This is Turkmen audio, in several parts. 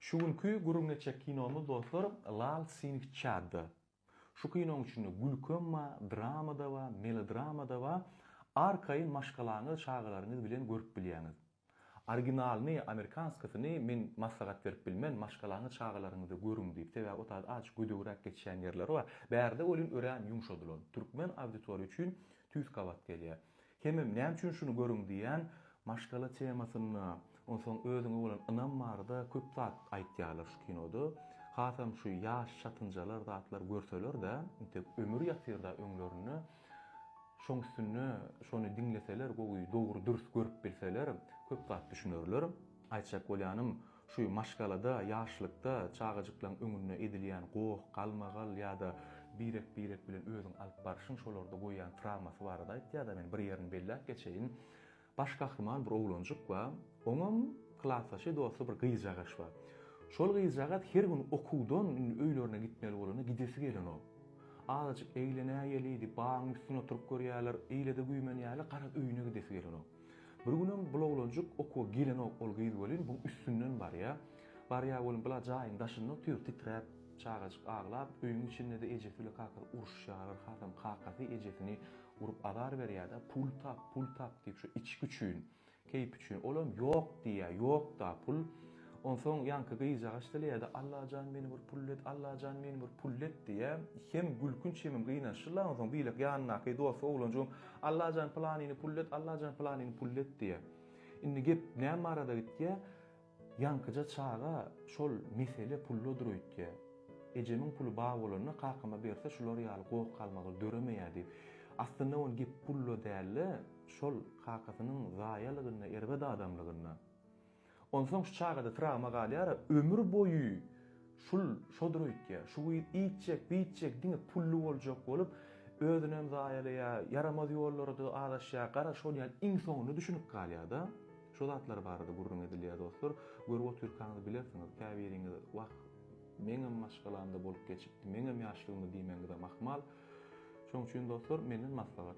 Şu günki gürrüň etjek kinomyz dostlar Lal Sing Çadda. Şu kinoň içinde gülkem ba, drama-da ba, melodrama-da ba, arkaýyn maşgalaňyz, çagalaryňyz bilen görüp bilýäňiz. Originalyny, amerikanskasyny men maslahat berip bilmen, maşgalaňyz, çagalaryňyzy görüň diýip, sebäbi o taýda azajyk gödegräk geçýän ýerleri bar. Bärde welin örän ýumşadylan, türkmen auditoriýa üçin tüýs gabat gelýär. Hemem näme üçin şuny görüň diýýän, maşgala temasynda, onsoň özüňe bolan ynam barada köp zat aýtýarlar şu kinoda. Hasam şu ýaş çatynjalar zatlar görseler-de, intek ömür ýatyr-da öňlerinde. Şoň üstünde şony diňleseler, gowy, dogry, dürs görüp bilseler, köp zat düşünerler. Aýtjak bolýanym, Şu maşgalada ýaşlykda çagajyklaň öňünde edilýän goh, galmagal ýa-da birek-birek bilen özüň alyp barşyň şolarda goýýan trawmasy barada aýtýarda men bir ýerini belläp geçeýin. Baş gahrymany bir oglanjyk bar. Oňam klasdaşy, dosty bir gyzjagaş bar. Şol gyzjagaz her gün okuwdan indi öýlerine gitmeli bolanda gidesi gelenok. Azajyk eglenäýeli, bagyň üstünde oturyp görýärler, eýle-de güýmenýärler, garaz öýüne gidesi gelenok. Bir günem bul oglanjyk okuwa gelenok ol gyz welin buň üstünden barýa. Barýa welin bula jaýyň daşynda otyr titräp çagajyk aglap öýüň içindede ejesi bile kakasy uruşýalar hasam kakasy ejesini urup azar berýada pul tap pul tap diýip şu içgi üçin keýp üçin olam ýok diýýa ýokda pul Onsoň ýaňky gyzjagaç dileýärdi, Allajan meni bir pullet, Allajan meni bir pullet diýýä. Hem gülkünç hemem gynaçly-la. Onsoň beýleki ýanyndaky dosty oglanjygym, Allajan pylanyny pullet, Allajan pylanyny pullet diýýä. Indi gep näme barada gitýä? Ýaňkyja çaga şol mesele pulladyr öýtýä. Ejemiň puly bar bolanda kakama berse şular ýaly goh galmagal döremeýär diýip. Aslynda oň gep pulla dälde, şol kakasynyň zaýalygynda, erbet adamlygynda. Onsoň şu çagada trawma galýar-a, ömür boýy şul şodur öýtýär. Şu gyz iýtjek, biýtjek, diňe pully boljak bolup, özünem zaýalaýar, ýaramaz ýollara-da azaşýar. Gara, şol ýaly iň soňunda düşünip galýar-da. Şu zatlar barada gürrüň edilýär, dostlar. Görüp otyrkaňyz bilersiňiz. Käbiriňiz, Wah, meňem maşgalamda bolup geçipdi, meňem ýaşlygymda diýmegiňizem ahmal. Şonuň üçin, dostlar, menden maslahat.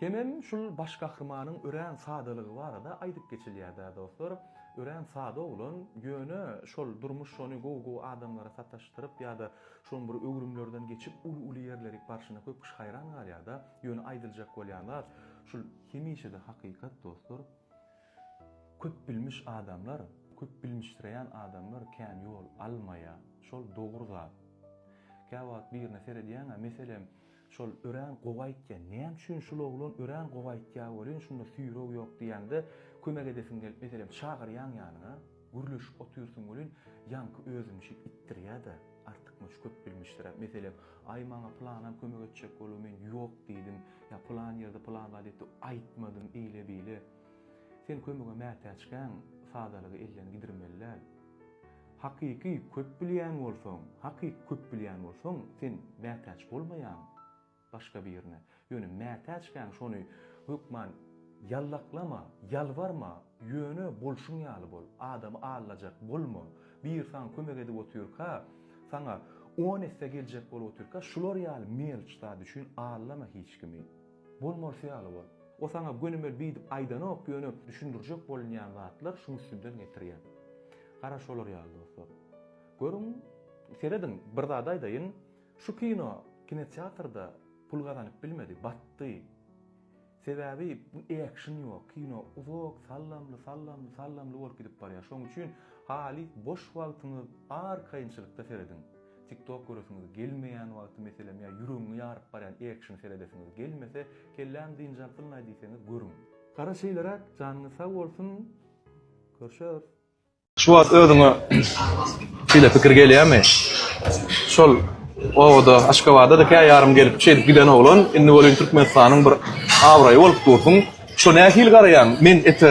Hemem şul baş gahrymanyň örän sadalygy barada aýdyp geçilýär-dä dostlar. Örän sada oglan, ýöne şol durmuş şony gowy-gowy adamlara sataşdyryp ýa-da şoň bir öwrümlerden geçip uly-uly ýerlerik barşyna köp kişi haýran galýar-da. Ýöne aýdyljak bolýan zat, şul hemişe-de hakykat dostlar. Köpbilmiş adamlar, köpbilmişdireýän adamlar kän ýol almaýar. Şol dogry zat. Käwagt birine seredýäňä, meselem, şol örän gowy aýtýar, näme üçin şul oglan örän gowy aýtýar welin, şunda süýreg ýok diýýäňde, kömek edesiň gelip, meselem, çagyrýaň ýanyňa, gürleşip otyrsyň welin, ýaňky özüniňçe itdirýär-de, artykmaç köpbilmişdiräp, meselem, Aý, maňa pylanam kömek etjek bolar, men ýok diýdim, ýa pylan ýerde, pylan zat etdim, aýtmadym, eýle-beýle. Sen kömege mätäçkäň, sadalygy elden gidirmeli däl. Hakyky köp bilýän bolsaň, hakyky köp bilýän bolsaň, sen mätäç bolmaýaň başga birine. Ýöne mätäçkäň şony hökman ýallaklama, ýalbarma, ýöne bolşuň ýaly bol. Adamy aldajak bolma. Biri saňa kömek edip otyrka, saňa on esse geljek bolup otyrka, şular ýaly melç zat üçin aldama hiç kimi. Bolmalysy ýaly bol. O saňa gönümel biydip aydanok yöne düşündirjek bolunyan zatlar şuň üstünden getiryan. Gara şolar yaly dostlar. Görüň serediň bir zat aydayyn şu kino kinoteatrda pul gazanyp bilmedi batdy. Sebabi action yok kino uzak sallamly sallamly sallamly bolup gidip barya şoň üçin halis boş wagtynyz arkaynçylykda serediň. TikTok göresiňiz gelmeýän wagty meselem ýa ýüregiňi ýaryp barýan action seredesiňiz gelmese kelläm dynç alsynlaý diýseňiz görüň. Gara şeýleräk janyňyz sag bolsun görüşeris. Şu wagt özüňe şeýle pikir gelýärmi? Şol obada Aşgabada-da kä ýarym gelip şeýdip giden oglan indi welin Türkmenistanyň bir abraýy bolup dursuň. Şo nähili garaýaň? Men ete